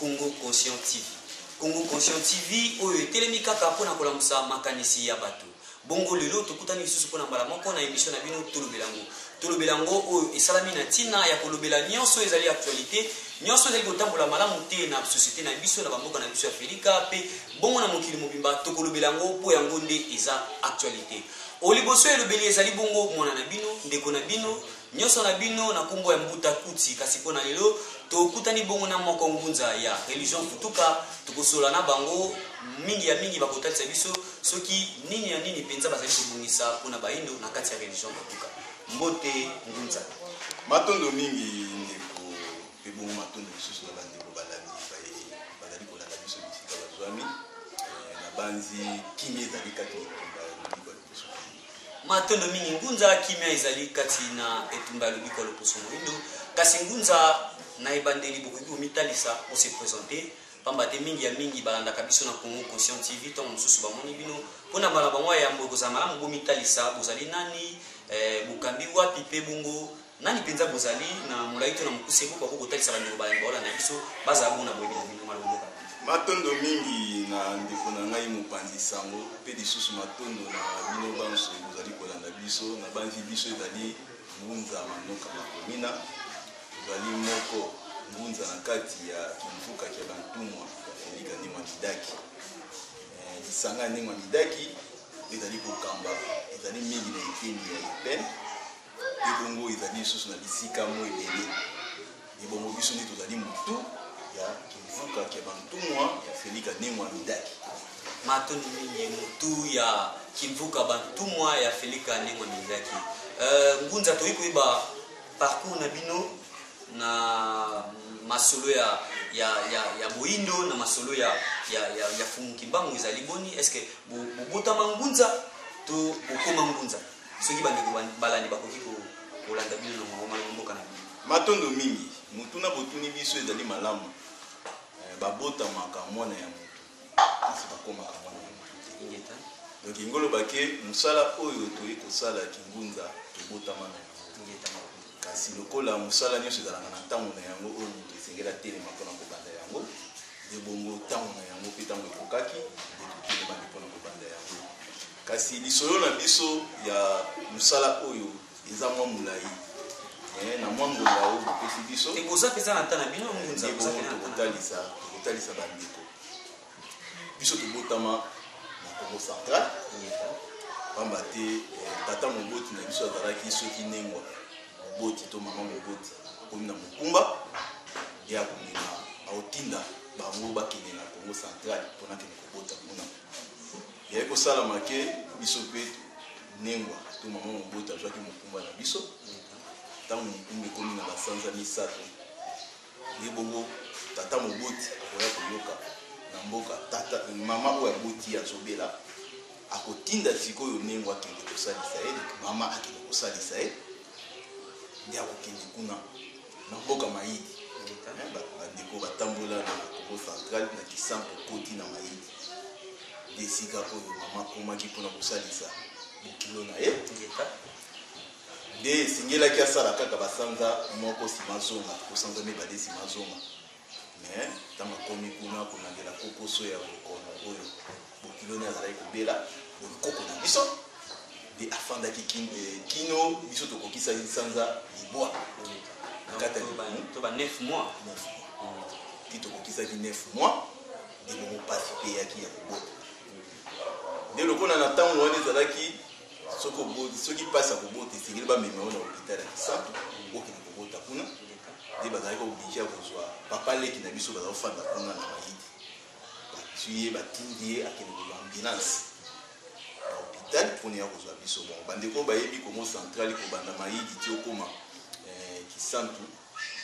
Congo Conscient TV. Congo Conscient TV oyo etelemi kaka mpo na kolamusa makanisi ya bato. Bongo lelo tokutani lisusu mpo na mbala moko na emission na bino tolobela yango. Tolobela yango oyo esalami na ntina ya kolobela nyonso ezali actualité, nyonso ezali kotambola malamu te na société na biso na bamboka na biso ya Afrika mpe bongo na mokili mobimba tokolobela yango mpo yango nde eza actualité. Oliboso elobeli ezali bongo mwana na bino, ndeko na bino, Nionso na bino na kombo ya Mbuta Kuti, kasi mpo na lelo tokutani bongo na moko ngunza ya religion Futuka. Tokosolola na bango mingi ya mingi, bakotalisa biso soki nini na nini mpenza bazali kobongisa mpo na baindo na kati ya religion Futuka. Mbote ngunza. Matondo mingi ndeko, mpe bongo matondo lisusu na bandeko balandi baye bazali kolanda biso bisika bazwami. Nabanzi kimia ezali kati na etumba ya lobi Matondo mingi ngunza, kimia ezali kati na etumba ya lobiko ya loposo moindo. Kasi ngunza, na ebandeli bokoki komitalisa, o se presenter, pamba te mingi ya mingi balandaka biso na Congo Conscient TV, ntango mosusu bamoni bino. Mpo na bana bango ya yambo, ekozala malamu bomitalisa, bozali nani, eh, bokambi wapi, mpe bongo Nani mpenza bozali na molai to na mokuse boko akoki kotalisa bandeko balemba olanda biso bazala bona boyebi na bino malomboka matondo mingi na ndeko na ngai mopanzi sango mpe lisusu matondo na bino banso bozali kolanda biso na banzi biso ezali ngunza manoka makomina ezali moko ngunza na kati ya kimfuka kya bantumwa ya felika ndima midaki eh, lisanga ya ndima midaki ezali kokamba ezali mingi na eteni ya epene mpe bongo ezali lisusu na bisika mo ebele ebongo biso nde tozali motu ya kimvuka kya bantumwa ya felika ndenge amidaki matoni mingi motu ya kimvuka bantumwa ya felika ndenge amidaki uh, eh, ngunza toyei koyeba parcours na bino na masolo ya, ya, ya, ya boindo na masolo ya, ya, ya, ya fumu kimbangu ezali boni estce bobotama bo ngunza to bokoma ngunza Soki bandeko balandi bakoki kolanda bino na mwango malamu mboka na bino. Matondo mingi. Motuna botuni biso ezali malamu. Eh, babotamaka mwana ya moto kasi bakomaka mwana ya moto te. Ingeta. Donc ingo loba ke mosala oyo toyei kosala kingunza tobotama na yango. Ingeta. Kasi lokola mosala nyonso ezalaka na ntango na yango oyo moto esengeli atelema mpo na kobanda yango, ebongo ntango na yango mpe ntango ekokaki, nde totelema mpo na kobanda yango. Kasi lisolo na biso ya mosala oyo eza mwa molai eh, na mwa ngonga oyo bopesi biso ekoza mpenza na nta na bino ngunza tokotalisa tokotalisa bandeko biso tobotama na congo central pamba te eh, tata moboti na biso azalaki soki nengwa moboti to mama moboti akomi na mokumba ye akomema aotinda bango bakende na congo central mpona kende kobota kuna eyaki kosalama ke biso mpe nengwa to mama moboti azwaki mokumba na biso ntango mokumba ekomi na basanza misato ye bongo tata moboti akoya koyoka na mboka tata mama oyo aboti azobela akotinda sikoyo nengwa akende kosalisa ye mama akende kosalisa ye nde akokende kuna Na mboka Mayidi, bandeko batambola na Kongo central, na Kisanko okoti na Mayidi nde esika oyo mama akomaki mpo na kosalisa bokilo na ye. Nde esengelaki asala kaka basanza moko nsima azonga, to sanza mibale nsima azonga. Mais tango akomi kuna kolandela kokoso ya mokono oyo bokilo ne azalaki kobela bonkoko na biso nde afandaki eh, kino biso tokokisaki sanza libwa na kati ya libamu to ba 9 mois ti tokokisaki 9 mois nde bongo mpasi eyaki ya kobota nde lokola na ntango wana ezalaki soki oboti soki mpasi ya kobota esengeli bamema yo na hopital ya kisantu okende kobota kuna nde bazalaki oblige ya kozwa papa leki na biso bazali kofanda kuna na mayidi batui ye batindi ye akende kozwa ambulance na hopital mpona ya kozwa biso bon bandeko bayebi kongo centrali kobanda mayidi ti okoma eh, kisantu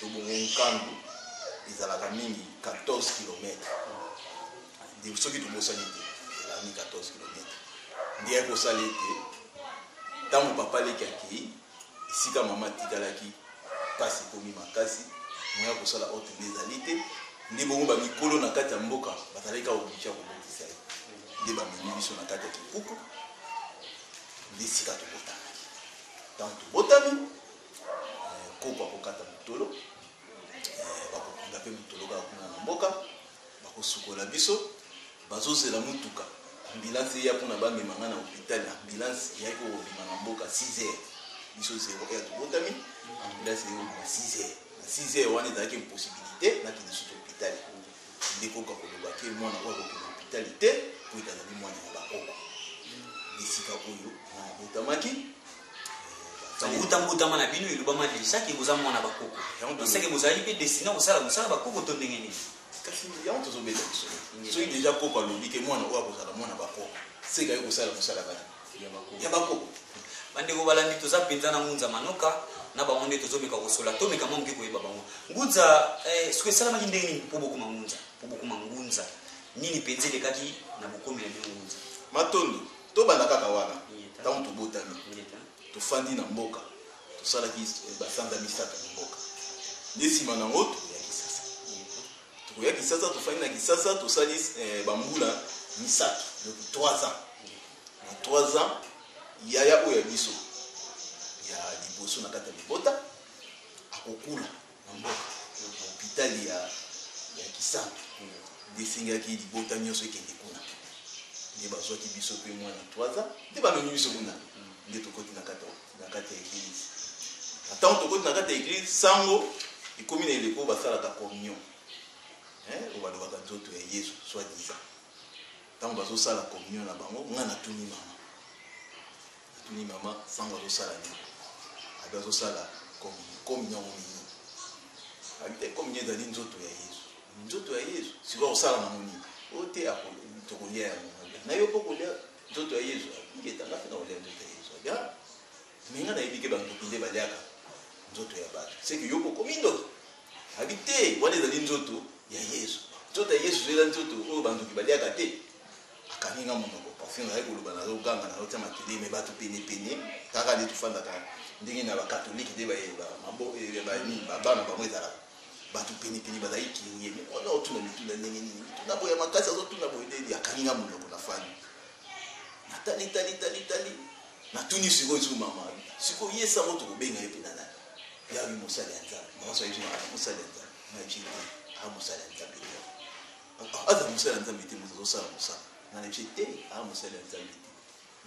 to bongo nkandu ezalaka mingi 14 kilomètre soki tobosani te elami 14 kilomètre nde yaki kosala ete ntango papa leki akei esika mama atikalaki mpasi ekomi makasi moya kosala oyo tende ezali te nde bongo bamikolo na kati ya mboka bazalaki kaka oblige ya kobotisa ye nde bamemi biso na kati ya kikuku nde esika tobotamaki ntango tobotami koko akokata motolo bakokunda mpe motolo kaka kuna na mboka bakosukola biso bazozela motuka ambulance eya mpona bamema ngai na hôpital ambulance eyaki kokobima na mboka 6 heures biso 0 heure tobotami ambulance eyaki kobima 6 heures na 6 heures wana ezalaki impossibilité nakende susu hôpital nde koko akoloba ke mwana oyo akokende hôpital te mpo ezalaki mwana ya bakoko esika oyo mwana abotamaki bouta mbotama na bino elobama deja ke boza mwana bakoko seke bozali mpe destine kosala mosala bakoko to ndenge nini kasi yango tozobeta biso soki deja koko alobi ke mwana oyo akozala mwana bakoko seke aye kosala mosala kani ya bakoko bandeko balandi toza mpenza na ngunza manoka na bango nde tozomeka kosola tomeka mwa moke koyeba bango ngunza eh, soki esalamaki ndenge nini mpo bokoma ngunza mpo bokoma ngunza nini mpenza elekaki na bokomi na bino ngunza matondo Tobanda kaka wana, ntango tobotami, tofandi na mboka, tosalaki basanza misato na mboka, nde nsima na yango tokoya Kisasa. Tokoya Kisasa, tofandi na Kisasa, tosali eh, bambula misato, donc 3 ans. Na 3 ans, yaya oyo ya biso ya liboso na kati ya libota akokula na mboka na hopitali ya ya kisantu nde esengelaki libota nyonso ekende kuna nde bazwaki biso mpe mwana 3 ans nde bamemi biso kuna nde tokoti na kati na kati ya eglise na ntango tokoti na kati ya eglise sango ekomi na eleko basalaka communion oyo balobaka nzoto ya yesu soit disant ntango bazosala communion na bango ngai natuni mama Natuni mama sango azosala nini abi azosala komi nyango mini abi te komi ezali nzoto ya yezu nzoto ya yezu sikoyo akosala nango nini oyo te tokolia yango na yo mpo kolia nzoto ya yezu abiketanga mpe na kolia nzoto ya yezu abi me nga nayebi ke bandoki nde baliaka nzoto ya bato seke yo bokomi ndoki abi te wana ezali nzoto ya yezu nzoto ya yezu ezali nzoto oyo bandoki baliaka te Akangi nga munoko parfum nazali koloba nazo ganga nazo tia makelele mais batu pene pene kaka nde tofandaka ndenge na ba catholique nde ba ba mabo eh, ba nini ba bana bango ezalaka batu pene pene bazali kirie mais wana otuna mituna ndenge nini mituna boye ya makasi azo tuna boye nde akangi nga munoko na fani natali tali tali tali natuni sikoyo sikoyo mama sikoyo ye sango tokobenga ye mpena nani yawi mosali ya nzambe mama soki mosali ya nzambe maji a mosali ya nzambe aza mosali ya nzambe te moto azosala mosala na neje te aa mosali ya nzambe te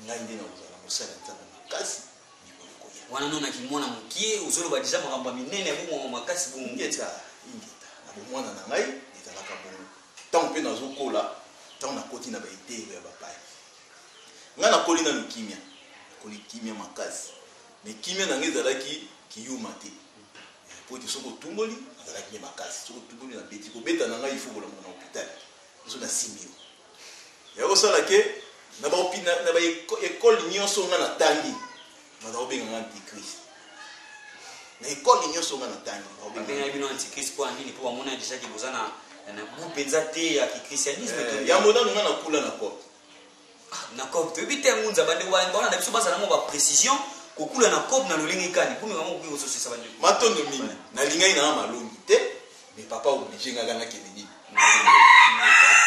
ngai nde nakozala mosali ya nzambe makasi mikolo koya wana no nakimwana mokie ozoloba deja makambo ya minene ya bomwango makasi bongeta ingeta na bomwana na ngai ezalaka bongo ntango mpe nazokola ntango nakoti na baeteelo ya bapaya ngai nakoli nanu kimia nakoli kimia makasi me kimia na ngai ezalaki kiyuma te mais mpo ete soki otumboli nazalaki nde makasi soki otumboli nabeti kobeta na ngai ifo kolamuka na hôpital biso nasimbi yo ya kosala ke na baekole nyonso ngai natangi baza kobenga ngai antichrist na ekole nyonso ngai natangi babengaki bino antichrist mpo ya nini mpo bamonaki déjà ke boza na na gout mpenza te ya kichristianisme eh, yango nanu ngai nakula na porte na cob toyebi te yango nzaba nde wana bana na biso bazala mwa baprecision kokula na cob na lolenge kani mpo mekama koki kososisa bande matondo mingi nalingaki nanga malongi te me papa oblige ngaka nakende nini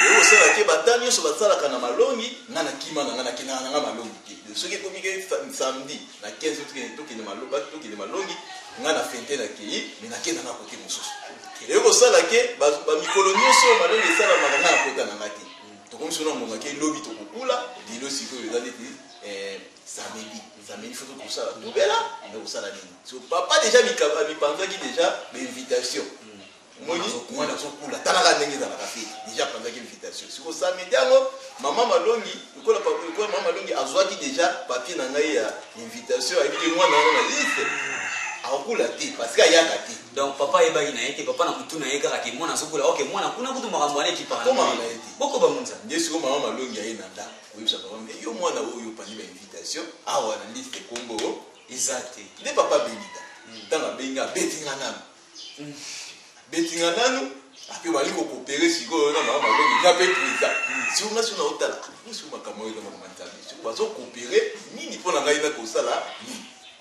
oyo osalaka te bata nyonso basalaka na malongi nga na kima na nga nakendaka na nga malongi te soki ekomi ke samedi na 15 tokende malongi nga na fente nakei me nakenda na kote mosusu eyo kosala ke bamikolo nyonso malongi esalamaka nga na kota na nga te tokomi sona ngonga ke lobi tokokula lelo sikoyo eza neti eh, samedi samedi fo tokosala tobela me kosala nini so papa deja mipanzaki deja bainvitation omoni mwana azokula talaka ndenge ezalaka fete deja apanzaki invitation siko samedi yango mama malongi lokola mama malongi azwaki deja papier na ngai ya invitation ayebiki mwana yango na liste akokula te parce que ayaka te donc papa ayebaki na ye te papa na mutu na ye kaka ke mwana azokola oke mwana kuna kutu makambo wana ekipaabokoba munza nde siko mama malongi aye na ndako oyebisa papa me yo mwana oyo opandi ba invitation awa ah, na liste kombo eza te nde papa abengita ntango hmm. abengi abeti nga nanu hmm. abeti nga nanu ape bali kokopere sikoyo na mama malongi nga mpe preza hmm. siko nga sio naotala ah, siko makambo oyo na makambo ya nzambe siko bazokopere nini mpo na ngai nakosala nini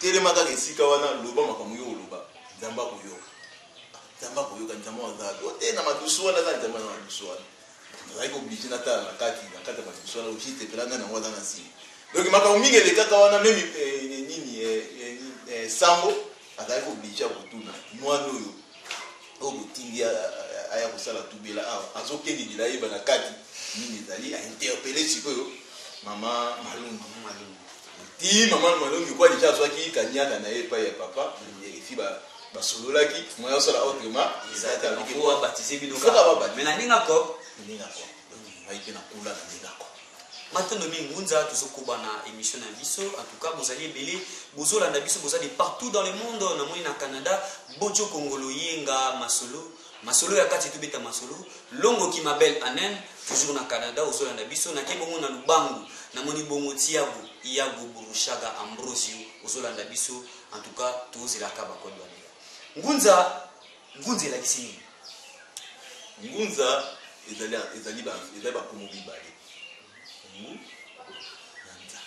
Telema kaka esika wana, loba makambo yo oloba, Nzambe akoyoka. Nzambe akoyoka, Nzambe azabi. Ote na madusu wana, aza Nzambe na madusu wana. Nazalaki oblige natala na kati, na kati ya madusu wana, oblige tepela ngai nango aza na nsima. Donc makambo mingi elekaka wana, meme eh, eh, nini, eh, sango azalaki oblige ya kotuna mwana oyo oyo botindi aya kosala tubela awa azokende lela ayeba na kati nini ezali ainterpele sikoyo mama malungu tii mama malongi kuwa deja azwaki kaniaka na ye epai ya papa efi basololaki moya osala autrement ezaaabatizebilokamenaningako ningako ngai mpe nakula na ningako matondo mingi ngunza tozokoba na émission na biso en tout cas bozali ebele bozolanda biso boza de partout dans le monde namoni na canada bojo kongolo yenga masolo Masolo ya kati tobeta masolo longo ki ma belle Anen toujours na Canada ozolanda biso na ke bongo na Lubangu na moni bongo Tiago Iago Burushaga Ambrosio ozolanda biso en tout cas tozela ka ba code wana Ngunza Ngunza elakisi nini Ngunza ezali ezali ba ezali ba komo bibale Ngu na nza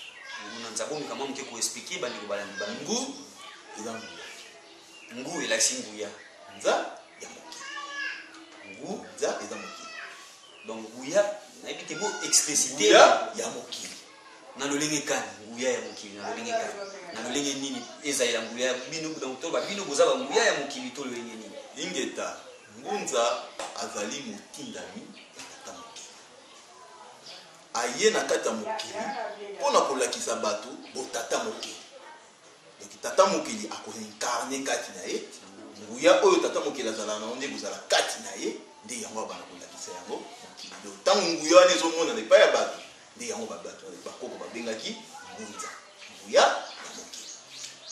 Ngu na nza bomika mwa moke ko expliquer bandeko balandi ba Ngu eza mbula Ngu elakisi nguya nza ya mokili. Ngu nza eza mokili. Donc nguya nayebi te bo explicite ya mokili. Na lolenge kani nguya ya mokili na lolenge kani na lolenge nini ezalela nguya bino donc to ba bino boza ba nguya ya mokili to lolenge nini. Ingeta ngunza azali motindami ya tata mokili. Aye na kati ya mokili mpo na kolakisa bato botata mokili. Donc tata mokeli ako reincarner kati na ye nguya oyo tata mokeli azalaka nango nde ekozala kati na ye nde yango abanda kolakisa yango mokili do ntango nguya wana ezomonana epai ya bato nde yango babato bakoko babengaki ngunza nguya ya mokeli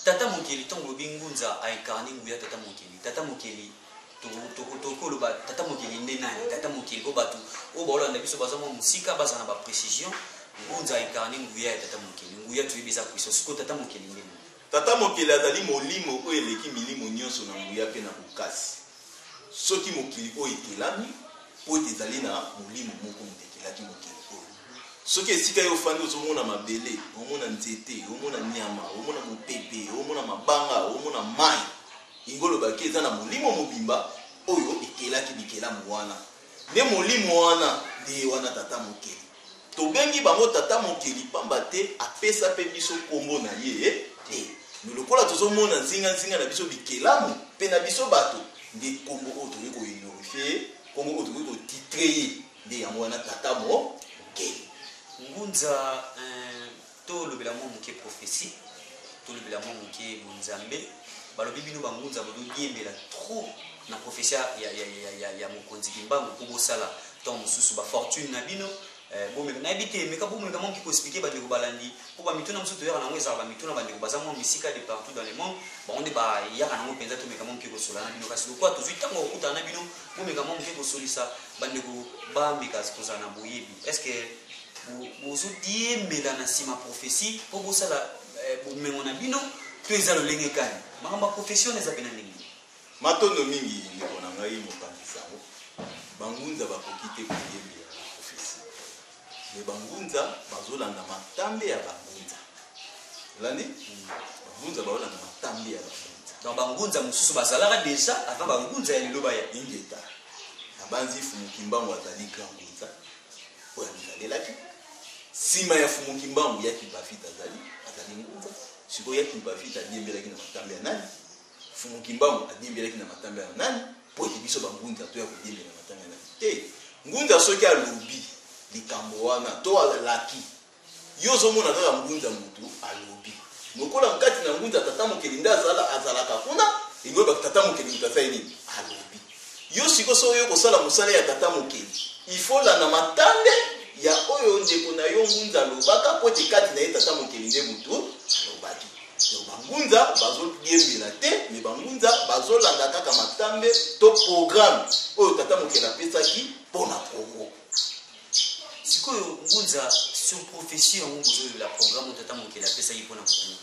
tata mokeli ntango olobi ngunza aincarne nguya tata mokeli tata mokeli tokoki oloba tata mokili nde nani tata mokili mpo bato oyo baolanda biso baza mwa mosika baza na baprécision ngunza incarne nguya ya tata mokili nguya toyebi eza puissance sikoyo tata mokili nde nani tata mokili azali molimo oyo eleki milimo nyonso na nguya mpe na bokasi soki mokili oyo ekelami mpo ete ezali na molimo moko moto ekelaki mokili oyo soki esika yo ofandi ozomona mabele omona nzete omona nyama omona mopepe omona mabanga omona mai Yango olobaki eza na molimo mobimba oyo ekelaki bikelamu wana. Nde molimo wana nde ye wana tata mokeli. Tobengi bango tata mokeli pamba te apesa mpe biso nkombo na ye te. Me lokola tozomona nzinga nzinga na biso bikelamu mpe na biso bato, nde nkombo oyo tokoki kohonorifier ye, nkombo oyo tokoki kotitrer ye nde yango wana tata mokeli. Ngunza, Ee. Tolobela mwa moke prophetie, tolobela mwa moke bonzambe. Balobi bino ba ngunza bozodiembela trop na prophetie ya, ya, ya, ya, ya mokonzi Kimbangu mpo bosala ntango mosusu ba fortune na bino eh, bomeka nayebi te meka bomeka mwa moke koexplike bandeko balandi mpo bamituna mosusu toyaka nango ezalaka bamituna bandeko baza mwa misika de partout dans le monde bango nde bayaka nango mpenza tomeka mwa moke kosola na bino kasi lokola tozwi ntango ya kokutana na bino bomeka mwa moke kosolisa bandeko bameka kozala na boyebi est ce que Bozo diembela na sima prophetie po bosala eh, bomengo na bino to eza lolenge kani? Makambo ya prophetie wana eza pena ndenge Matondo mingi ndeko na ngai mopanzi sango. Bangunza bakoki te koyembela na prophetie. Me bangunza bazolanda matambe ya bangunza. Olandi? Hmm. Bangunza bazolanda matambe ya bangunza. Donc bangunza mosusu bazalaka deja avant bangunza ya lelo baya. Ingeta. Nabanzi Fumukimbangu azali grand oyo amitalelaki nsima ya fumu kimbangu ya kimpafita azali azali ngunza sikoyo ya kimpafita adiembelaki na matambe ya nani fumu kimbangu adiembelaki na matambe ya nani mpo ete biso bangunza toya kodiembela na matambe ya nani te ngunza soki alobi likambo wana to alaki Yo ozomona kaka ngunza mutu alobi lokola nkati na ngunza tata mokeli nde azala azalaka kuna eloba tata mokeli moto asali nini alobi yo siko soki oyo kosala mosala ya tata mokeli ifola na matande ya oyo ndeko na yo ngunza alobaka mpo ete kati na ye tata mokeli nde motu alobaki donc bangunza bazodiembela te me bangunza bazolanda kaka matambe to programme oyo tata mokeli apesaki mpo na kongo sikoyo ngunza sur prophetie yango bozoyebela programme oyo tata mokeli apesaki mpo na kongo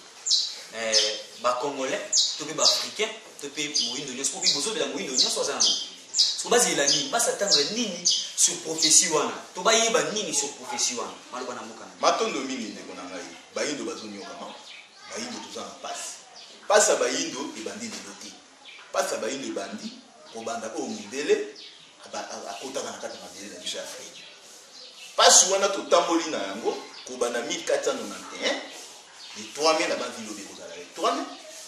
eh, bacongolais to mpe baafricain to mpe moindo nyonso mpo bozobela moindo nyonso aza na mokili so bazela nini basatandre nini sur prophetie wana to bayeba nini sur prophetie wana maloba na mboka na matondo mingi ndeko na ngai bayindo bazonyokama bayindo toza na mpasi mpasi ya bayindo ebandi lelo te Pasi ya bayindo ebandi kobanda oyo mundele akotaka na kati ya mabele na biso ya Afrika. Pasi wana totamboli na yango kobanda 1491 le 3 mai na banzi lobi ekozala le 3 mai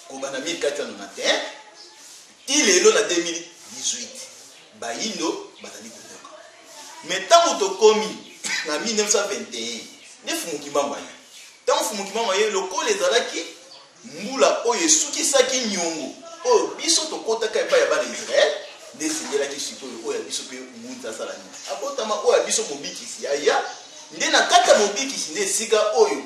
kobanda 1491 ti lelo na 2018 bayindo bazali kotoka me ntango tokomi na 1921 nde fumukimbangu aye ntango fumukimbangu aye lokola ezalaki Mbula oyo esukisaki nyongo oyo biso tokotaka epai ya bana ya Israel, nde esengelaki sikoyo oyo ya biso mpe Ngunza asala nini? Abotama oyo ya biso Mobikisi aya, nde na kati ya Mobikisi nde esika oyo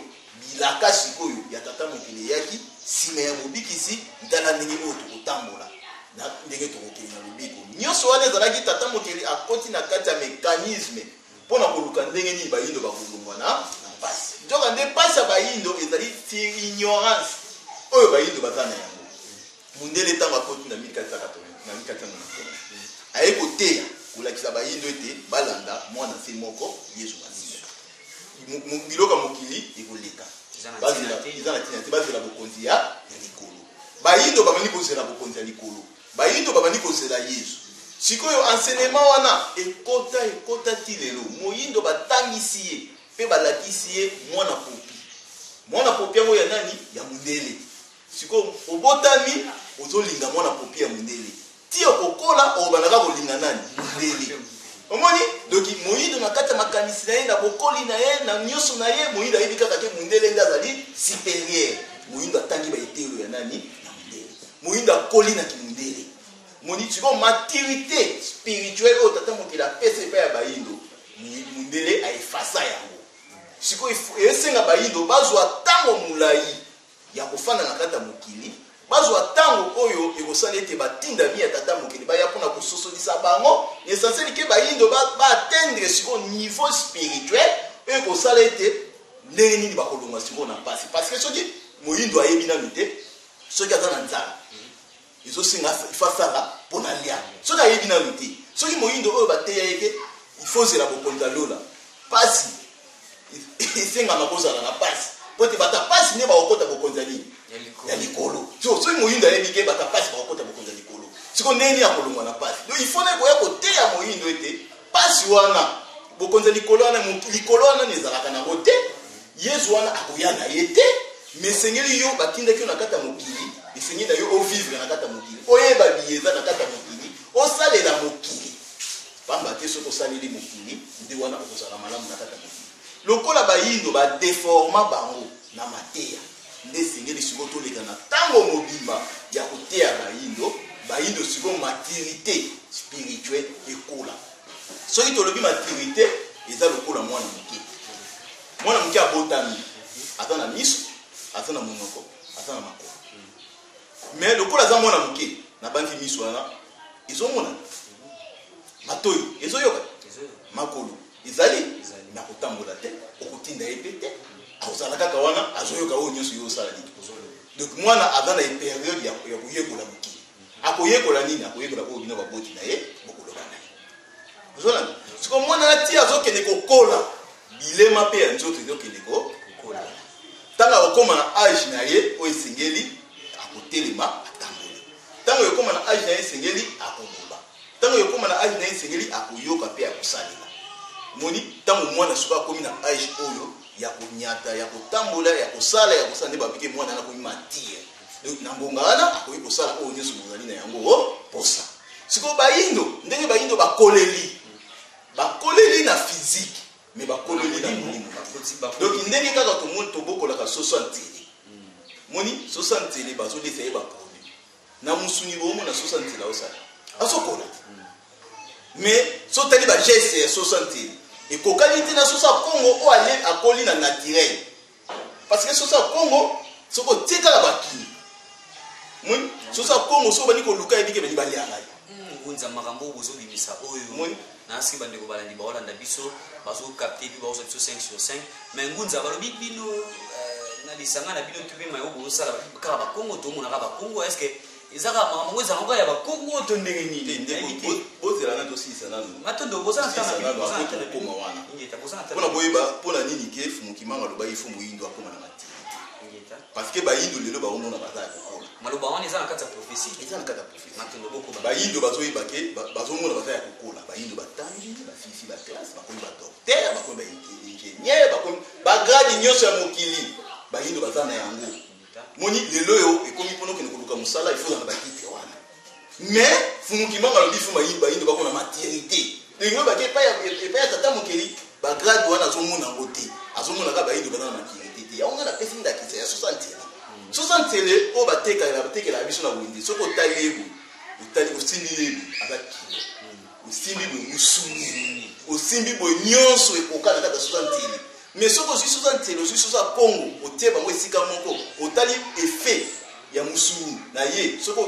bilaka sikoyo ya Tata Mokeli eyaki, nsima ya Mobikisi, tala ndenge oyo tokotambola na ndenge tokokende na lobiko. Nyonso wana ezalaki Tata Mokeli akoti na kati ya mecanisme. mpo na koluka ndenge nini bayindo bakolongwa na na mpasi nzoka nde mpasi ya bayindo ezali ignorance oyo bayindo baza na yango mundele ntango akoti na 1480 aye koteya kolakisa bayindo ete balanda mwana se moko yesu masiya biloko ya mokili ekoleka eza na ntina te bazela bokonzi ya likolo bayindo bamani kozela bokonzi ya likolo Bayindo babandi kozela Yezu. Sikoyo enseignement wana ekota, ekota ti lelo. Moyindo batangisi ye pe balakisi ye mwana popi. Mwana popi yango ya nani? Ya mundele. Sikoyo obotami ozolinga mwana popi ya mundele. Ti okokola okobanda kaka kolinga nani? Mundele. Omoni? Donc moyindo na kati ya makanisi na ye, na bokoli na ye, na nyoso na ye, moyindo ayebi kaka ke mundele nde azali superieur. Moyindo atangi ba eteyelo ya nani? moyindo akoli na kimundele moni sikoyo maturité spirituelle oyo tata mokili apesa epai ya bayindo mundele aefasa yango sikoyo esenga bayindo bazwa ntango molai ya kofanda na kati ya mokili bazwa ntango oyo ekosala ete batindami ya tata mokili baya mpona kososolisa bango na esanseli ke bayindo baatendre sikoyo niveau spirituel oyo ekosala ete ndenge nini bakolongwa sikoyo na mpasi parce que soki moyindo ayebi nanu te soki aza na nzala ezosenga ifa asala mpo na lia soki ayebi nanu te soki moyindo oyo bateya ye te ifo ozela bokonzi ya lola mpasi esengama kozala na mpasi mpo ete bata mpasi nde bakokota bokonzi ya nini ya likolo so soki moyindo ayebi te bata mpasi bakokota bokonzi ya likolo siko ndenge nini akolongwa na mpasi donc ifo na ekoya koteya moyindo ete Pasi wana, bokonzi ya likolo wana, likolo wana ezalaka na yango te. Yesu wana akoya na ye te, me esengeli yo batindaki yo na kati ya mokili, esengeli na yo ovivre na kati ya mokili, oyeba biye eza na kati ya mokili, osalela mokili. Pamba te soki osaleli mokili, nde wana okozala malamu na kati ya mokili. Lokola bayindo badeforma bango Na mateya nde esengeli sikoyo toleka na tango mobimba ya koteya bayindo bayindo sikoyo maturite spirituel ekola soki tolobi maturite eza lokola mwana moke mwana moke abotami aza na miso aza na monoko aza na makolo me lokola aza mwana moke nabanzi miso wana ezomona matoi ezoyoka makolo Ezali? Nakotambola te, okotinda ye mpe te. Akozala kaka wana, azoyoka oyo nyonso yo osala nini. Donc mwana aza na periode ya koyekola mokili. Akoyekola nini? Akoyekola oyo bino baboti na ye bokoloba na ye. Ozolanda? Siko mwana na ti azokende kokola, bilema mpe ya nzoto ezokende kokola. Ntango akokoma na age na ye oyo esengeli, akotelema, atamboli. Ntango ekokoma na age na ye esengeli, akoboma. Tango ekokoma na age na ye esengeli akoyoka pe akosalela. Omoni? Tango mwana sikoyo akomi na age oyo ya konyata, ya kotambola, ya kosala, ya kosala nde balobi ke mwana wana akomi mature. Donc na ngonga wana akoki kosala oyo nyonso bozali na yango o posa. Sikoyo bayindo ndenge bayindo bakoleli, bakoleli na physique mais bakoleli na molimo. Donc ndenge kaka tomoni tobokolaka soso ya nzele. Omoni? Soso ya nzele bazolisa ye ba na musuni bongo na 60 nzela osala azokola mais so tali bageste ya 60 nzela ekokani te na soso ya kongo oyo ale akoli na naturel parce que soso ya kongo soki otie kaka bakili moni soso ya kongo soki obandi koluka yebike bani balianga ye ngunza makambo oyo bozobimisa oyo na ce que bandeko balandi baolanda biso bazo capte epi bakozwa biso 5 sur 5 mais ngunza balobi bino euh, na lisanga na bino topema yo bozosala kaka bakongo tomonaka bakongo est ce que eza kaka makambo yango ezalaka ya bakongo to ndenge nini bozela nani tosilisa nanu matondo bozana ntanakokoma wana mpona boyeba mpona nini ke fumukimanga alobaki fo moyindo akoma na mati parce que bayindo lelo baomona baza ya kokola maloba wana eza na kati ya prophesie eza na kati ya bayindo bazoyeba ke bazomona baza ya kokola bayindo batangi basilisi baklasse bakomi badoktere bakomi baingenieur bakomi bagrade nyonso ya mokili bayindo baza na yango moni lelo oyo ekomi mpona okende koluka mosala ifozala na bakite wana mais fumuki mama alobi fuma bayindo bakona maternité Union bake epai ya epai ya tata mokeli ba grade wana azomona yango te azomona kaka bayindo baza na maturité te yango nga napesi ndakisa ya sosa ntele sosa ntele oyo batekela batekela biso na wende soki otali ye boye otali osimbi ye boye aza kilo osimbi boye mosuni osimbi boye nyonso ekokana kaka sosa ntele mais soki ozwi sosa ntele ozwi sosa kongo otie bango esika moko otali effet ya mosuni na ye soki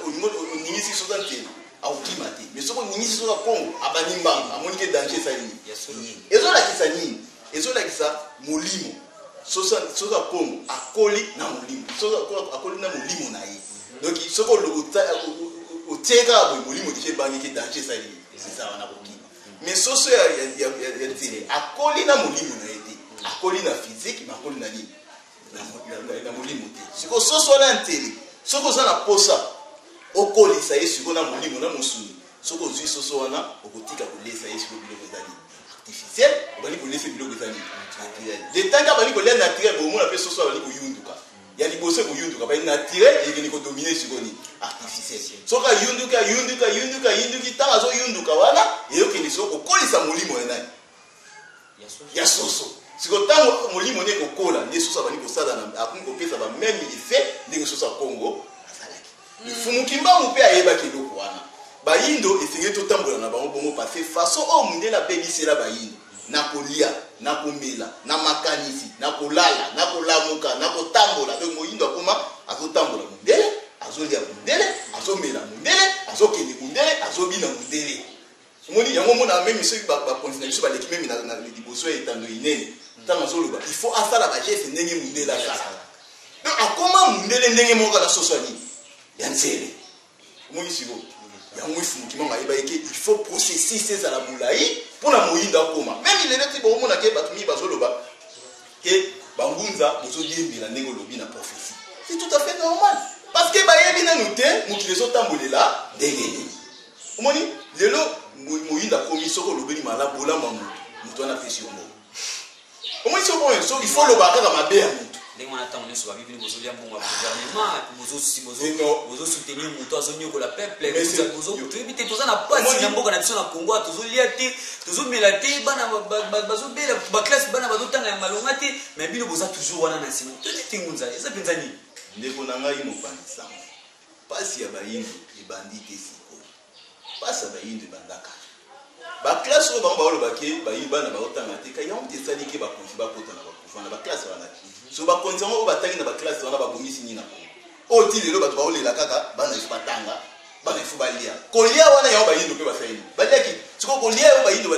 oningisi sosa ntele akokima te mais soki oningisi soki ya congo abandi mbanga amoni ke danger esali nini ezolakisa nini ezolakisa molimo soki ya congo akoli na molimo soki akoli na molimo na ye donc soki otie kaka boye molimo deja ebangi ke danger esali nini eza wana kokima mais soso ya nzele akoli na molimo na ye te akoli na physique mais akoli na nini na molimo te sikoyo soso wana ya ntele soki oza na mposa okolisa ye sikoyo na molimo na mosuni soki ozwi soso wana okotika kolesa ye sikoyo biloko ezali artificiel obandi kolesa biloko ezali naturel letanke abandi kolia naturel bomona mpe soso abandi koyunduka ya liboso ekoyunduka bai naturel ekende kodomine sikoyo nini artificiel soki ayunduki ayunduki ayunduki ayunduki ntango azoyunduka wana eyokende sikoyo kokolisa molimo ya nani ya soso sikoyo ntango molimo nde ekokola nde soso abandi kosala akomi kopesa bameme effet ndenge soso ya kongo azalaki mifumuki mm. mbangu mpe ayebaki eloko wana bayindo esengeli totambola na bango bongo pase façon oyo mondele abebisela bayindo na kolia na komela na makanisi na kolala na kolamuka na kotambola donc moyindo akoma azotambola mondele azolia mondele azomela mondele azokende mondele azobina mondele omoni yango omona meme soki bakonzi na biso baleki meme na liboso ya etando inene ntango azoloba il faut asala bageste ndenge mundele asala donc akoma mundele ndenge moko na soso nini ya nzele omoni siko yango ifumukima mayeba eke il faut processus ezala molai mpo na moyindo akoma meme lelo ti bokomona ke bato mingi bazoloba ke bangunza bozodiembela ndenge olobi na prophesie c'est tout à fait normal parce que bayebi nanu te mokili ezotambolela ndenge nini omoni lelo moyinda akomi soki olobeli mala bolamu ya moto moto wana apesi yo mbongo omoni soki oyo so ifo olobaka kaka mabe ya moto ndenge wana ntango nyonso babibini bozolia mbongo ya gouvernement bozosoutenir moto azonyokola peuple toyebi te toza na pasi na mboka na biso na congo tozolia te tozomela te bana bazobela baklasse bana bazotanga ya malonga te mais bino boza toujours wana na nsima toyebi te ngunza eza mpenza nini ndeko na ngai mopanzi sango Pasi ya bayindo ebandi te sikoyo pasi ya bayindo ebanda kala ba classe oyo bango baoloba ke bayi bana baotanga te ka yango te esali ke bakonzi bakota na bakuva na ba classe wana te so bakonzi yango oyo batangi na ba classe wana babongisi nini na kongo oyo ti lelo bato baolela kaka bana esu batanga bana esu balia kolia wana yango bayindo mpe basali nini baliaki sikoyo kolia yango bayindo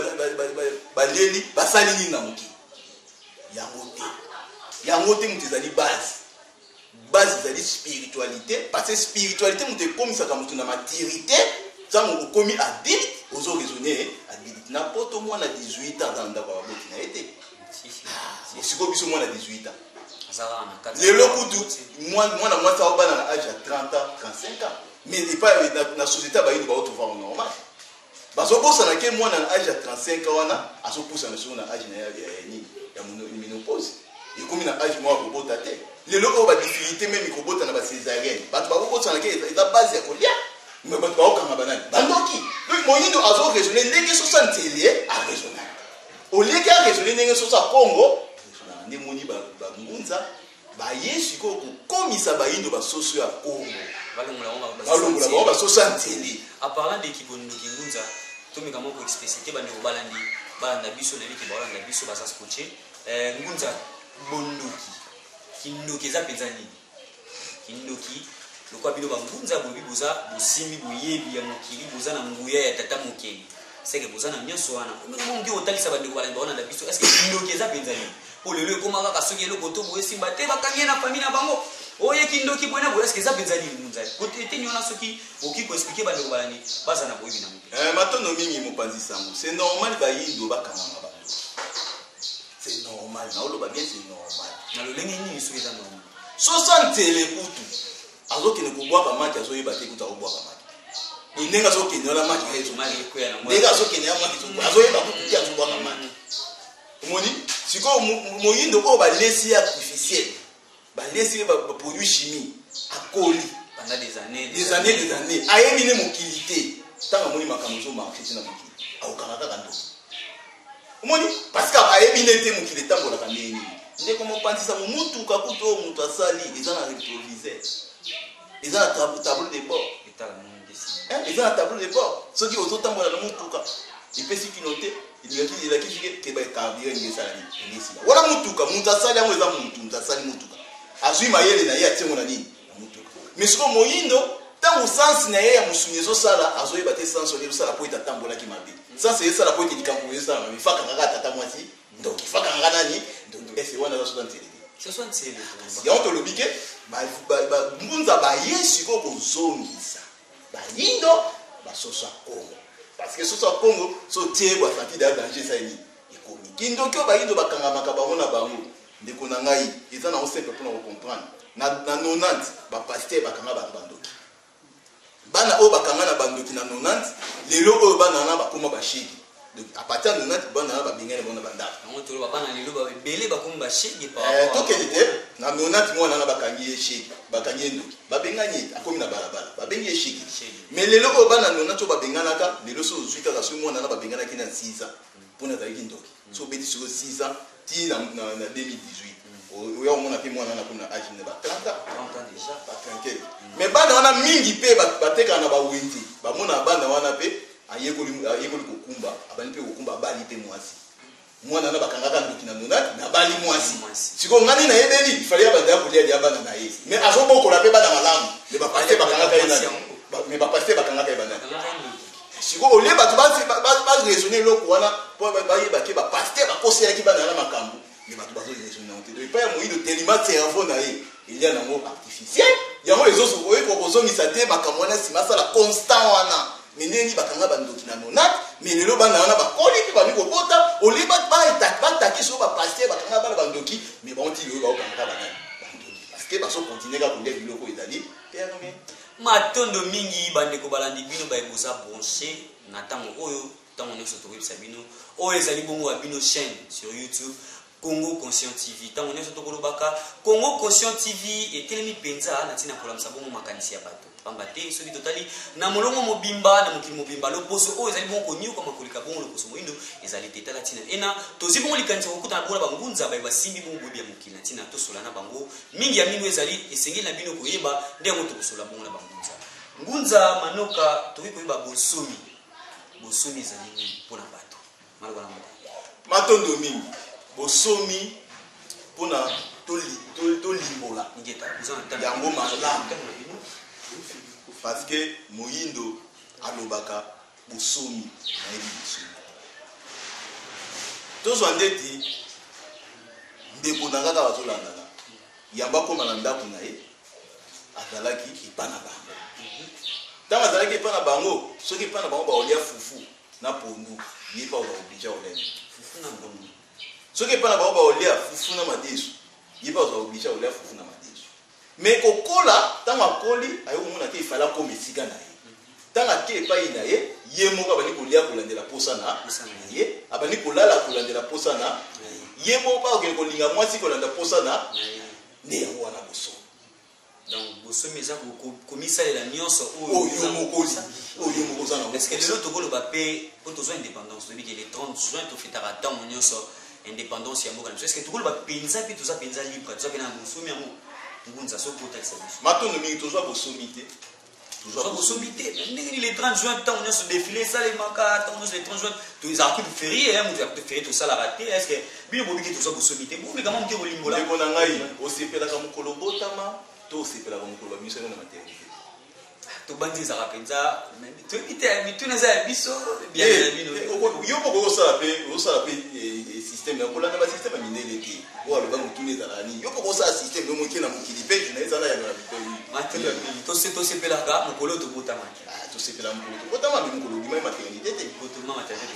balieli basali nini na moki yango te yango te moto ezali base base ezali spiritualité parce que spiritualité moto ekomisaka moto na maturité ntango okomi adulte ozo raisonne adulte na poto mwana 18 ans aza na ndako ya baboti na ye te ah, sikoyo biso mwana 18 ans lelo kutu mwana mwasi aobana na age ya 30 ans 35 ans mais epai na société ya bayindo baotovaa normal Bazo bosana ke mwana na age ya 35 ans wana azo pusana solo na age na ya nini ya menopause ekomi na age moko akobota te lelo oyo ba difficulté meme ikobota na ba césarienne bato bakobosana ke eza base ya kolia me bato bakokanga banani bandoki donc moyindo azo raisonne ndenge sosa nzele araisonnaka oleki araisonne ndenge sosa congo nde moni bangunza Baye sikoyo kokomisa bayindo basoso ya Congo. Balongola bango basoso ya nzele. A parlant de Kibondo Kingunza, tomeka moko explicite bandeko balandi balanda biso nayebi ke baolanda biso baza scotche. Eh, Ngunza bondoki kindoki eza mpenza nini? Kindoki lokola bino bangunza boyebi boza bosimbi boyebi ya mokili boza na nguya ya tata mokeli seke boza na nyonso wana omongi otalisa bandeko balandi baona na biso eske kindoki eza mpenza nini po lelo ekoma kaka soki eloko to boye simba te bakangi ye na famille na bango oye kindoki boye na boye eske eza mpenza nini munza kote eteni wana soki okoki koexplike bandeko balandi baza na boyebi na mope eh, matondo mingi mopanzi sango se normal bayindo bakangama bango se normal naoloba bien se normal na lolenge nini soki eza normal sosantele kutu azokende kobwaka maki azoyeba te kutu akobwaka maki boye ndenge azokende wana maki ndenge azokende ya maki azoyeba kutu te azobwaka maki omoni sikoyo moyindo oyo balesi ye artificiel balesi ye baproduit chimie akoli des années des années ayebi ne mokili te ntango amoni makambo ezomarche te na mokili akokanga kaka ndoki omoni parce que ayebi nde te mokili etambolaka ndenge nini ndeko mopanzisa momutuka kutu oyo moto asali eza na retroviseur eza na tableau de bord eh, eza na tableau de bord soki ozotambola na motuka epesi kino te elakisi keba carburant ndenge esala nini ndenge esila wana motuka moto asali yango eza motu moto asali motuka azwi mayele na ye atie yango na nini na motuka mais sikoyo moyindo ntango sansi na ye ya mosuni ezosala azoyeba te sansi oyo ezosala mpo ete atambolaki mabe sansi ezosala mpo ete likambo ezosala mabe fakaka kaka tata mwasi ndoki faka nga nani ese wana aza soda nselele soso nselele yango tolobi ke ngunza baye sikoyo kozongisa bayindo basoso ya kongo parce que soso ya kongo so tie bwasati da danger esali nini ekomi kindoki oyo bayindo bakangamaka bango na bango ndeko na ngai eza nango simple mpona kocomprendre na 90 bapaster bakanga bato bandoki bana oyo bakanga na bandoki na 90 lelo oyo bana wana bakoma bashege à partir ya 90 bana wana babengani bango na bandako yango toloba bana lelo ebele bakomi bashege eh, tokende te na 90 mwana wana bakangi ye shege bakangi ye ndoki babengani ye akomi na balabala babengi ye shege mais lelo oyo bana 90 oyo babenganaka lelo so ozwi kaka soki mwana wana babenganaki na 6 ans mpo na azalaki ndoki soki obeti sikoyo 6 ans ti na 2018 oya komona mpe mwana wana akomi na age na ba 30 ans ba 30 mais mm. bana wana mingi mpe batekaka na bawenze bamona bana wana mpe ayekoli kokumba abandi mpe kokumba abali mpe mwasi mwana wana bakangaka ndoki na nonati nabali mwasi sikoyo ngani nayebeli ifale ya banda ya kolia lia bana na ye mais azobokola mpe bana malamu me bapaste bakangaka ye nani me bapaste bakangaka ye banani sikoyo olie bato baraisonne eloko wana mpo bayeba ke bapaster bakoselaki bana yana makambo me bato bazoraisonne yango te do epai ya moyindo telima cerveau na ye elia nango artificiel yango oyekoka kozongisa te makambo wana nsima asala constant wana me ndenge nini bakanga bandoki na nonate me lelo bana wana bakoli mpe bandi kobota olie bataki soko bapaster bakanga bana bandoki me bango ti lelo baokanga banani bandoki parceke bazokontinue kaka kolia biloko ezali perme Matondo mingi bandeko balandi bino baye boza branche na ntango oyo ntango nyonso tokoyebisa bino oyo ezali bongo ya bino chaîne sur youtube congo conscient tv ntango nyonso tokolobaka congo conscient tv etelemi mpenza na ntina kolamisa bongo makanisi ya bato pamba te soki totali na molongo mobimba na mokili mobimba loposo oyo ezali bongo konyokwama koleka bongo loposo moindo ezali te tala ntina ena tozwi bongo likanisi ya kokutana bongo na bangunza baye basimbi bongo boyebi ya mokili na ntina tosola na bango mingi ya mino ezali esengeli na bino koyeba nde yango tokosola bongo na bangunza ngunza manoka tokoki koyeba bonsomi bonsomi ezali nini mpo na bato maloba na moko matondo mingi bonsomi mpo na tolimbola yango malamu parce que moyindo alobaka Bosomi nayebi bosomi tozwa ndeti ndeko na kaka bazolandana yambo akoma na ndako na ye azalaki epa na bango ntango azalaki epa na bango soki epa na bango baolia fufu na pondu ye mpe akoka kobija olene fufu na pondu soki epa na bango baolia fufu na madesu ye mpe akoka kobija olia fufu na madesu Mais kokola tango akoli aye komona ke ifale akoma esika na ye. Tango ake epai na ye, ye moko abandi kolia kolandela posa na ye, abandi kolala kolandela posa na ye moko mpe akokende kolinga mwasi kolanda posa na nde yango wana boso donc bosomi eza komisalela nyonso oyo moko oyo moko oza nango lelo tokoloba mpe mpo tozwa indépendance toyebi ke le 30 juin tofetaka ntango nyonso independance ya mboka na biso eske tokoloba mpenza mpe toza mpenza libre toza mpe na bonsomi yango ngunza soki otalisa biso matondo mingi tozwa bosomi te tozwa bosomi te ndenge nini le 30 juin ntango nyonso defile esalemaka ntango nyonso le 30 juin tozala kutu ferie ya moto ya kutu ferie tosalaka te eske bino bobiki tozwa bosomi te bomeka mwa moke kolimbola ndeko na ngai osepelaka mokolo obotama to osepelaka mokolo bamisa yo na maternité tobandi ezaka mpenza toyebi te mituna eza ya biso biana eh, na bino eh, yo moko osala mpe osala mpe eh, systeme ya kolanda basysteme ya mindele te oyo aloba motuna ezalaka nini yo moko osala systeme yo moke na mokili mpe na ezala yango na bitoi tosepelaka mokolo oyo tobotamaki ah, tosepela mokolo tobotama mpe mokolo obimai maternité te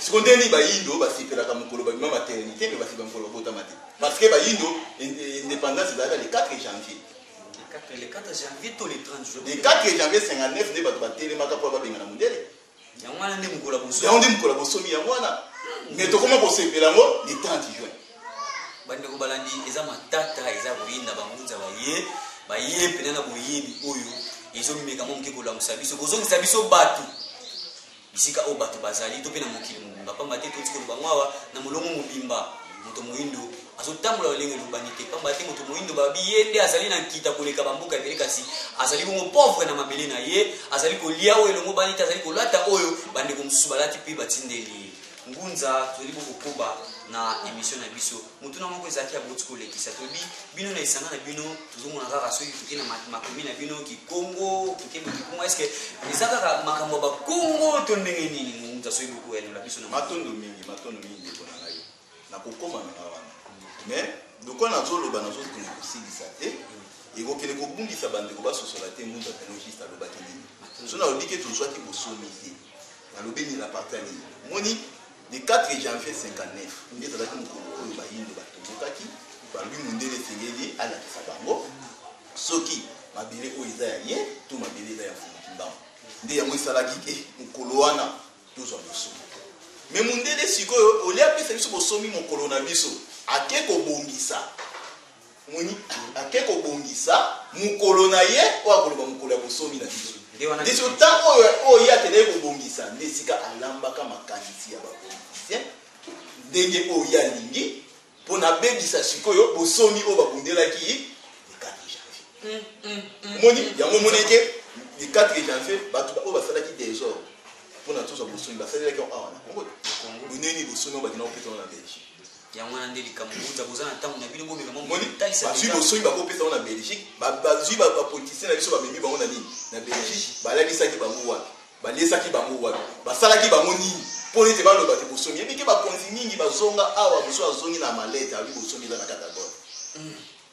siko nde nini bayindo basepelaka mokolo babima maternité mpe basepela mokolo babotama te parce que bayindo indépendance ezalaka le 4 janvier le 4 janvier to le 30 juin le 4 janvier 59 nde bato batelemaka mpo babengana mondele yango wana nde mokolo bosomi yango nde mokolo bosomi yango wana me tokoma kosepela yango le 30 juin bandeko balandi eza matata eza koyinda bangunza baye baye mpena na boyebi oyo ezomemeka mo moke kolamusa biso kozongisa biso bato bisika oyo bato bazali to mpe na mokili mobimba, mpamba te touti koloba yango awa na molongo mobimba. Moto moindo azotambola lolenge elobani te, mpamba te moto moindo babi ye nde azali na nkita koleka bamboka ebele, kasi azali bongo pauvre na mabele na ye, azali kolia oyo elongobani te, azali kolata oyo bandeko mosusu balati mpe batindeli ye ngunza. Tozali kokoba na emission na biso. motuna moko ezalaki aboti kolekisa toyebi bino na esanga na bino tozomona kaka soki toke na makomi na bino kikongo toke makikongo eske eza kaka makambo ya bakongo to ndenge nini momuta soki bokoyanola biso na matondo mingi matondo mingi ndeko na ngai nakokoma na ngai wana mais lokola nazoloba nazokende kosilisa te ekokende kobungisa bandeko basosola te mundu apenogiste alobaki nini so nalobi ke tozwaki bosomi te nalobi nini na parti ya nini moni Le 4 janvier 59 nde ezalaki mokolo oyo bayindo batombokaki balobi mondele esengeli alakisa bango soki mabele oyo eza ya ye to mabele eza ya mfumu kimbangu nde yango esalaki ke mokolo wana tozwa bosomi me mondele sikoyo olie apesa biso bosomi mokolo na biso ake kobongisa Omoni? Ake kobongisa mokolo na ye oyo akoloba mokolo ya bosomi na biso. Nde siko ntango oyo oyo ye akendaki kobongisa, nde esika alambaka makanisi ya bapolitisien ndenge oyo ye alingi mpo na abebisa sikoyo bosomi oyo babundelaki le 4 janvier. Omoni? Yango omoni ete le 4 janvier bato oyo basalaki desordre mpo na tozwa bosomi basalelaki yango awa na Congo te. Bonene bosomi oyo bakendaki kopesa yango na Belgique. yango wana nde likambo boza boza na ntango na bino bomeka bazwi bosoki bakopesa yango na belgique bazwi bapoliticien na biso bamemi bango na nini na belgique balalisaki bango wapi baliesaki bango wapi basalaki bango nini mpo ete baloba te bosomi yebike bakonzi mingi bazonga awa mosusu azongi na malete abi bosomi eza na katagote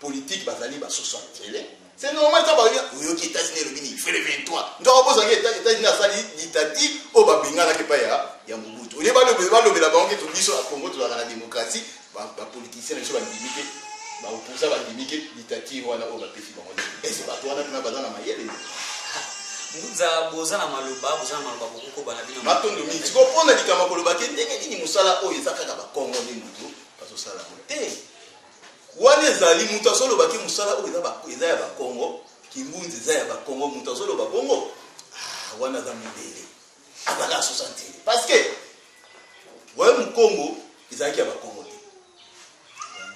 politique bazali ba 60 tele c'est normal ça bayoki oyoki États-Unis elobi nini fele 23 ndio abozangi États-Unis asali dictature oyo babenganaki epai ya ya Mobutu olie balobela bango ke biso na Congo tozalaka na démocratie bapoliticien na biso bandimi te baoposa bandimi te dictature wana oyo bapesi bango ese bato wana mpena baza na mayele nza boza na maloba boza na maloba bokokoba na bino matondo mingi sikoyo mpo na likambo kolobaki ndenge nini mosala oyo eza kaka bakongo nde moto bazosala yango te Wana ezali mutu azoloba ke musala oyo eza ya bakongo, kimbunzi eza ya bakongo, mutu azoloba bongo ah, wana aza mibele azalaka asusa ntele parce que wayo mukongo ezalaki ya bakongo te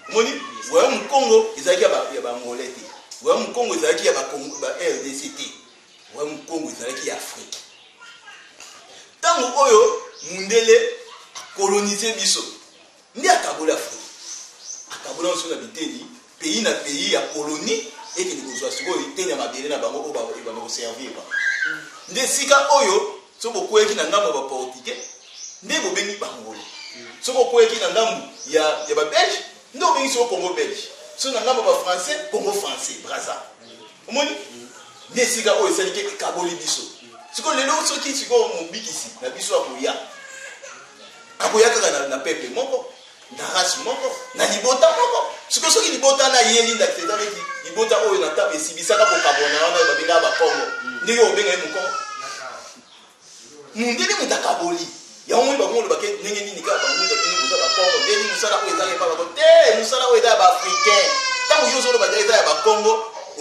omoni wayo mukongo ezalaki ya bangole te wayo mukongo ezalaki ya rdc te wayo mukongo ezalaki ya afrike ntango oyo mundele akolonize biso Nde akaboli Afrika. Akaboli yango sikoyo na biteni, pays na pays ya colonie ekende kozwa sikoyo eteni ya mabele na bango oyo ebanda koservir bango. Nde esika oyo soki bokweyaki na ngambo ya baportugais nde bobengi bangolo. Soki okweyaki na ngambo ya, ya babelge nde obengi sikoyo Congo belge. Soki na ngambo ya bafrançais, Congo français, Brazza. omoni nde esika oyo esalike ekaboli biso sikoyo lelo soki sikoyo mobikisi na biso akoya akoya kaka na, na peple moko na race moko na libota moko sikoyo soki libota na ye linda kisa eza neti libota oyo na ntango esibisaka kokabona wana oyo babengaka bakongo ndenge obenga ye mokongo mundele moto akaboli yango moni bango olobake ndenge nini kaka banguza bino boza bakongo ndenge nini mosala oyo ezaka epa bako te mosala oyo eza ya baafricain ntango yo ozoloba eza ya bakongo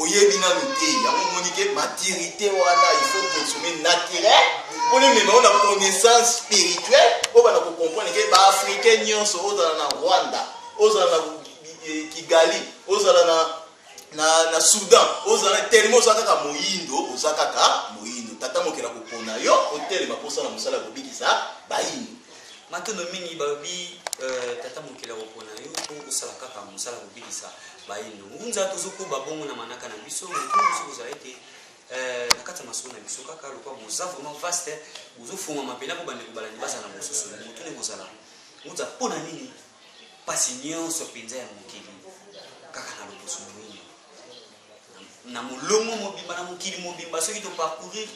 oyebi nanu te yango omoni ke maturité wana il faut consommer naturel mpo nemema yo na connaissance spirituelle oyo bana kocomprendre ke baafricain nyonso ozala na rwanda ozala na eh, kigali ozala na na, na soudan ozala telema oza kaka moyindo oza kaka moyindo tata mokela kopona yo otelema mposa na mosala ya kobikisa bayindo matondo mingi balobi euh, tata mokela kopona yo mpo osala kaka mosala ya kobikisa bayindo ngunza tozokoba bongo na manaka na biso motu mosusu kozala ete euh, na kati ya masolo na biso kaka lokola boza vraiment vaste bozofungama mpena mpo bandeko balandi bazala na bososoli motu nde kozala ngunza mpo na nini mpasi nyonso mpenza ya mokili kaka na loposo moyini na molongo mobimba na mokili mobimba soki toparcourir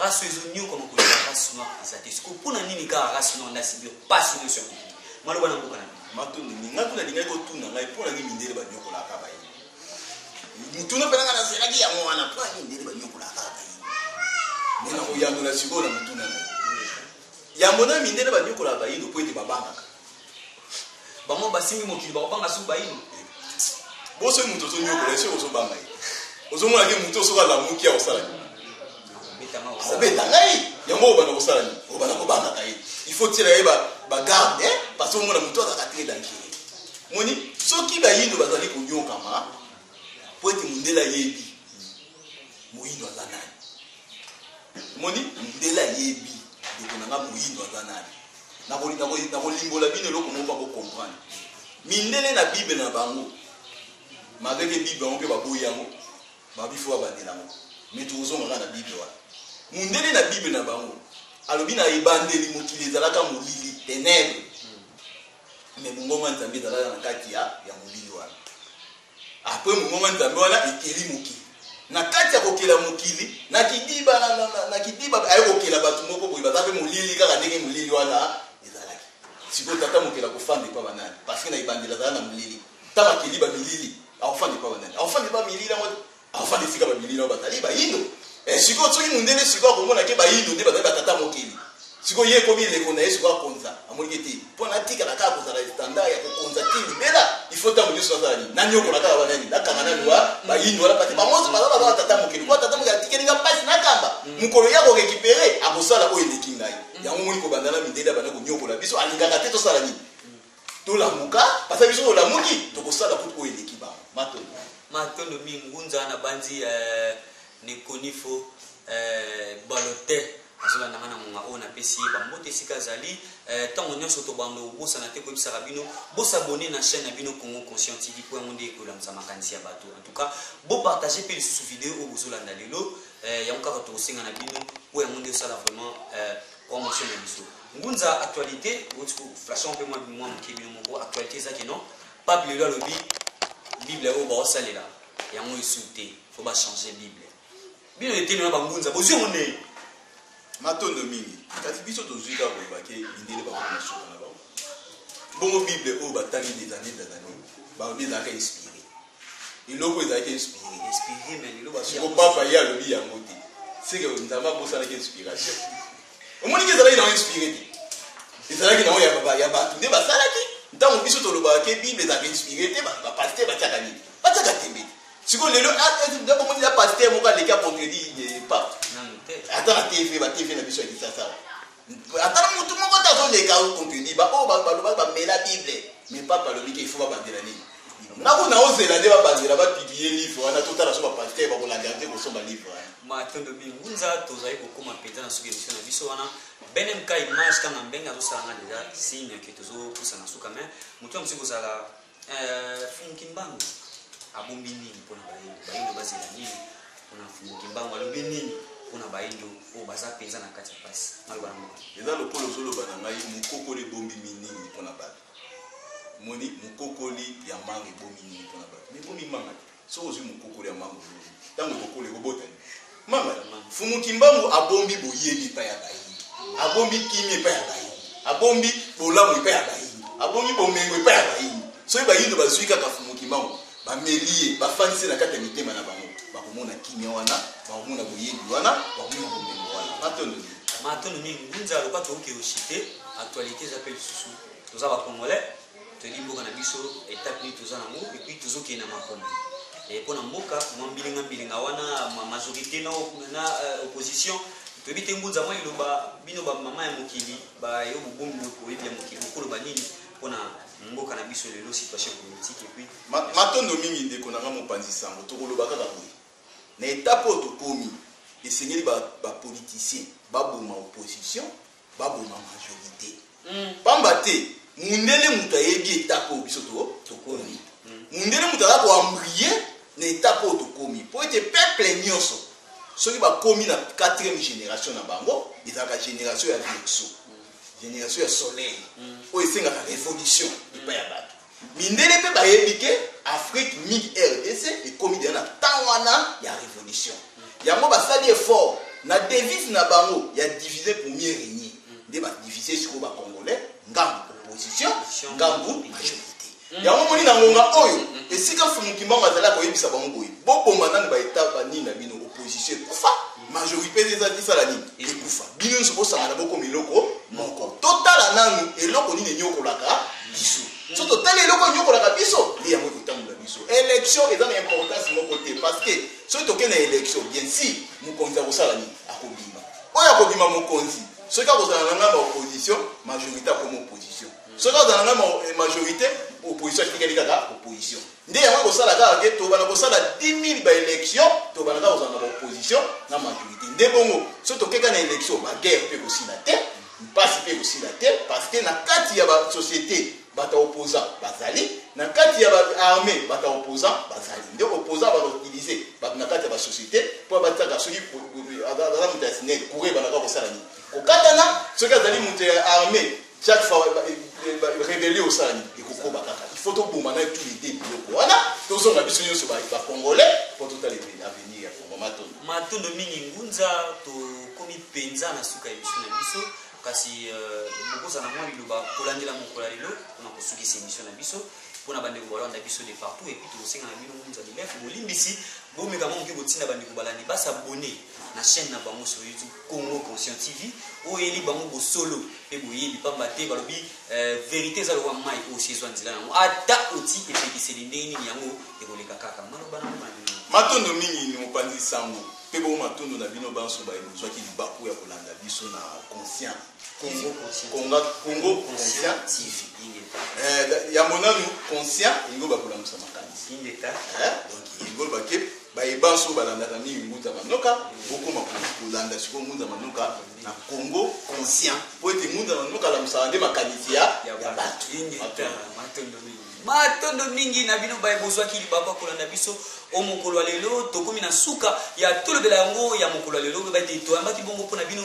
race ezo nyokoma koleka race noire eza te siko mpo na nini kaka race noire nde asibi mpasi nyonso ya mokili maloba na mboka na bino matondo nini ngai kuna lingaki kotuna ngai mpo na nini mindele banyokolaka bayini motuna mpe nanga nazelaki yango wana mpo na nini mindele banyokolaka bayini nde nakoyanola sikoyo na motuna ngai Yambo na mindele banyokolaka bayindo mpo ete babangaka bango, basimbi mokili bakobanga suku bayindo. Boso ye moto ozonyokola ye soki ozobanga ye, ozomona ke moto soki alamuki akosala nini? Akobeta ngai yango, obanda kosala nini? Obanda kobangaka ye, il faut tiela ye bagarde eh? parce que omona moto azaka te dankele moni soki bayindo bazali konyokama mpo ete mondele ayebi moyindo aza nani omoni mundele ayebi ndeko na nga moyindo aza nani nakolimbola bino eloko moko mpo bocomprendre mindele na bible na bango malgreke bible yango mpe baboyi yango babifo babandela yango me tokozonga kaka na bible wana mundele na bible na bango alobi na ebandeli mokili ezalaka molili tenebre me bongoma nzambe ezalaka na kati ya molili wana Apres mongongo ya Nzambe wana ekeli mokili. Na kati ya kokela mokili, na kidiba, na, na, na, na kidiba, aye kokela bato moko boye, baza mpe molili kaka ndenge molili wana ezalaki. Sikoyo tata mokeli akofanda epa banani? Parce que na ebandeli azala na molili. Ntango akeli bamilili, akofanda epa banani? Akofanda epa milili yango. Avanda esika ba bimi nao bazali ba yindo. Eh siko soki mundele siko akomona ke ba yindo nde bazali ba tata mokili. Siko ye ekomi eleko na ye siko akonza. Amoni ke te. Po na tika na kaka kozala standard ya kokonza ti libela. Il faut tango nyoso nazala ni na nyokola kaka ba nani. Na kanga na loi ba yindo wala pati ba mozo bazala bazala tata mokili. Kwa tata mokili atikeli nga pasi na kamba. Mukolo ya ko récupérer akosala oyo eleki ngai. Yango moni kobanda na mindele abanda konyokola biso alingaka te tosala nini. Tolamuka, papa biso olamuki, tokosala kutu oyo eleki bango. Matondo. Matondo mingi ngunza na banzi eh, nekonifo eh, balote azola nanga na ngonga oyo napesi ye bambote esika azali eh, ntango eh, nyonso tobanda obosana te koyebisaka bino bosabone na chaîne na bino congo conscient tv mpo yango nde ekolamisa makanisi ya bato en tout cas bopartage mpe lisusu video oyo bozolanda lelo eh, yango kaka tokosenga na bino mpo yango nde osala vraiment eh, promotion na biso Ngunza actualite boti ko flasha mpe mwa mwa moke bino moko actualite eza ke non pape lelo alobi bible oyo baosalela yango esu te fo bachange bible bino eteni wana bangunza bozwi yango ndenge matondo mingi kasi biso tozwi kaka koloba ke mindele bakoma na suka na bango bongo bible oyo batali des années des années baobi ezalaka inspire eloko ezalaki inspiré inspiré mais lelo basi siko papa ye alobi yango te seke nzambe abosanaki inspiration omoniki ezalaki nango inspiré te ezalaki nango ya bato nde basalaki ntango biso tolobaka ke bible ezalaka inspiré te bapaster batiaka nini batiaka tembe siko lelo omoni ya paster moko aleki acontredi pape ata na tv batv na biso ya kisasa Ata na mutu moko te azoleka yo contenu ba oyo balobaki bamela bible mais pape alobi ke ifo babandela nini nako naozela nde babandela bapiblie livre wana totala so bapaster bakolandela te kosomba livre wana matondo mingunza tozali kokoma mpenza na suka emission na biso wana bene mka image kanga mbenge azosala nga deja signe ke tozopusana suka mai motu ya mosuki kozala Euh, Fumu Kimbangu abombi nini mpo na bayindo? Bayindo bazela nini mpo na Fumu Kimbangu? Alobi nini mpo na bayindo oyo baza mpenza na kati ya pasi? Maloba na mboka. Eza lokola ozoloba na ngai mokokoli ebombi nini mpo na bato. Moni mokokoli ya manga ebombi nini mpo na bato. Mebomi manga te. Soki ozwi mokokoli ya mango lobi, ntango ekokola ekobota nini? Mama, Mfumu Kimbangu abombi boyebi epai ya bayini, abombi kimia epai ya bayini, abombi bolamu epai ya bayini, abombi bomengo epai ya bayini. Soki bayindo bazwi kaka Mfumu Kimbangu, bameli ye, bafandisi na kati ya mitema na bango, bakomona kimia wana, bakomona boyebi wana, bakomona bomengo wana. Matondo mingi. Matondo mingi. Ngunza aloba toyoki yoshite, actualite eza mpe lisusu. Toza ba Congolais. Toyebi mboka na biso etape nini toza nango epuis tozokende na makambo eh, mpo na mboka mwa mbilinga mbilinga wana ma majorité na, na uh, opposition toyebi te ngunza mwa liloba bino bamama ya mokili bayo bobongi boyebi ya mokili bokoloba nini mpo na mboka na biso lelo situation politique epuis matondo mingi ndeko nanga mopanzi sango tokoloba kaka boye na etape oyo tokomi esengeli bapoliticien ba baboma opposition baboma majorite pamba te mundele moto ayebi etape oyo biso tokomi mundele moto aza koambrie na etape oyo tokomi mpo ete peuple nyonso soki bakomi na quatrième génération na bango ezalaka génération ya verso génération ya soleil oyo esengaka révolution epai ya bato Mindele pe bayebi ke Afrique mingi RDC ekomi deja na temps wana ya revolution. Yango basali effort na devise na bango ya diviser pour mieux régner. Nde ba diviser sikoyo ba Congolais ngambo opposition, ngambo majorité. Mm. Yango moni na ngonga oyo mm, mm, esika Fumukimbangu azali akoyebisa bango boye boboma nanu ba Etats ba nini na bino opposition ekufa. majorité nde ezalaki sala nini ekufa bino nyonso bosangana bokoma eloko moko totala nanu eloko nini enyokolaka biso so totali eloko enyokolaka biso nde yango ekotambola biso élection eza na importance moko te parce que soki toke na élection bien si mokonzi akosala nini akobima oyo akobima mokonzi soki akozala na ngai ba opposition majorité akoma opposition soki azala na ngai eh, majorité opposition atikali kaka opposition Nde yango ekosala kaka ke tobana kosala 10000 ba election tobana kaka kozala na baopposition na majorité nde bongo so tokeka na election baguerre mpe ekosila te mpasi mpe ekosila te parce que na kati ya basociété bato ya opposant bazali na kati ya baarmé bato ya opposant bazali nde opposant bakoutilize bato na kati ya basociété mpo bataka soki aza moto ya sinel koureba na kaka kosala nini kokatana soki azali moto ya armé Chaque fois rebellion osala nini ekokoba kaka il faut toboma na tous les deux biloko wana tozonga biso nyonso bacongolais mpo totala avenir ya congo matondo matondo mingi ngunza tokomi mpenza na suka ya biso na biso kasi euh, bokozala mwa liloba kolandela mokola lelo mpona kosukisa emission na biso mpona bandeko balanda biso de partout epuis tokosenga na bino ngunza bilefu bolimbisi bomeka mwa moke kotinda bandeko balandi basabone na chaîne na bango sur youtube Congo Conscient TV oyo eyeli bango bosolo mpe boyebi mpamba te balobi eh, verite eza lokola mai oyo osi ezwa nzela yango ata oti epekiseli ndenge nini yango ekoleka kaka maloba nango manini matondo mingi ni mopanzi nsango mpe bongo matondo na bino banso baye bozwaki libaku ya kolanda biso na conscient Congo conscient. Conga, Congo Conscient TV. Ingeta. Eh, yango nanu conscient yango bakolamusa makanisi Ingeta. Eh, donc yango bake baye banso balandaka mingi ngunza manoka bokoma ko- kolanda sikoyo ngunza manoka na congo conscient mpo ete ngunza manoka alamusaka nde makanisi ya ya Ya bato bato. Ingeta. Matondo mingi. Matondo mingi na bino baye bozwaki libaku ya kolanda biso o mokolo ya lelo tokomi na suka ya tolobela yango ya mokolo ya lelo oyeba ete toyambaki bongo mpo na bino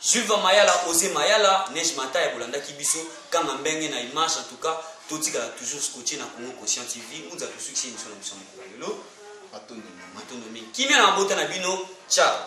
Silva Mayala Ose Mayala Neige Mataya bolandaki biso kanga mbenge na image en tout cas totikala toujours scotché na Congo Conscient TV ngunza tosukisi emission na biso mokolo lelo matondo mingi matondo mingi kimia na mabota na bino ciao